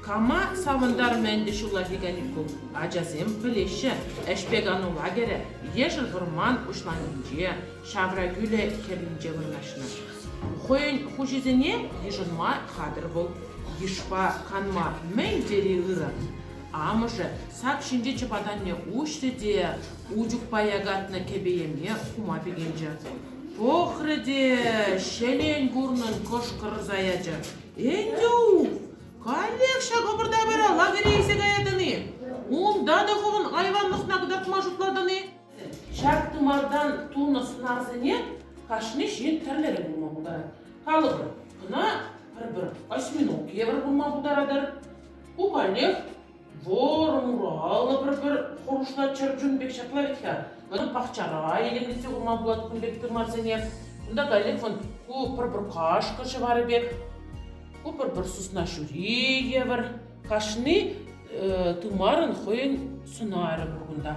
Кама савӑнтармӗ ӗнтӗ ҫулла Пиканикун? Ачасем пӗлеҫҫӗ, ӗҫпе кану лагерӗ Ешӗл вӑрман уҫланкинче, ҫавра кӳлӗ хӗрринче вырнаҫнӑ. Хӑйӗн хуҫисене йышӑнма хатӗр вӑл. Йышпа канма мӗн тери ырӑ. Амӑшӗ сак ҫинчи чӑпатанне уҫрӗ те Учукпа якатнӑ кӗпе-йӗме хума пикенчӗ. Пӑхрӗ те ҫӗлен курнӑн кӑшкӑрса ячӗ. Энтю, каллех ҫак ӑпӑр-тапӑра лагере илсе каятӑн-и? Унта та хӑвӑн айванлӑхна кӑтартма шутлатӑн-и? Ҫак тымартан тунӑ сӑнарсене кашни ҫын тӗрлӗрех пулма пултарать. Калӑпӑр, кӑна пӗр-пӗр осьминог евӗр пулма пултаратӑр. Ку каллех Вӑр-ура, алла пӗр-пӗр хурӑшла чӗрчун пек ҫапла вӗт-ха. Ӑна пахчара йӗлемлетсе хурма пулать кун пек тымарсене. Кунта каллех вӑл ку пӗр-пӗр кашкӑр ҫӑварӗ пек, ку пӗр-пӗр сысна ҫури евӗр. Кашни э, тымарӑн хӑйӗн сӑнарӗ пур кунта.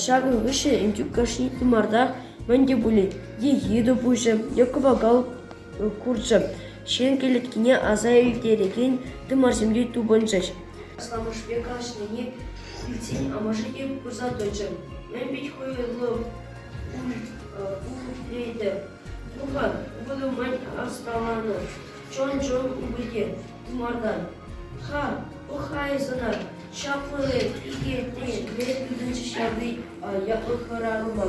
Ҫакӑн хыҫҫӑн Энтюк кашни тымарта мӗн те пулин е йытӑ пуҫӗ, е кӑвакал курчӗ ҫын кӗлеткине аса илтерекен тымарсемпе тупӑнчӗҫ. Асламӑшӗпе калаҫнине илтсен амӑшӗ те курса тӑчӗ. Мӗн пит хуйӑллӑ Лейде, пукан, вылумать ӑсталанӑ. Чон-чон упӑте тымартан. Ха, пӑхайсӑна, ҫаплӑ эп икетне ме тытӑнчӗ ҫаври ятлӑ хӑрарӑма.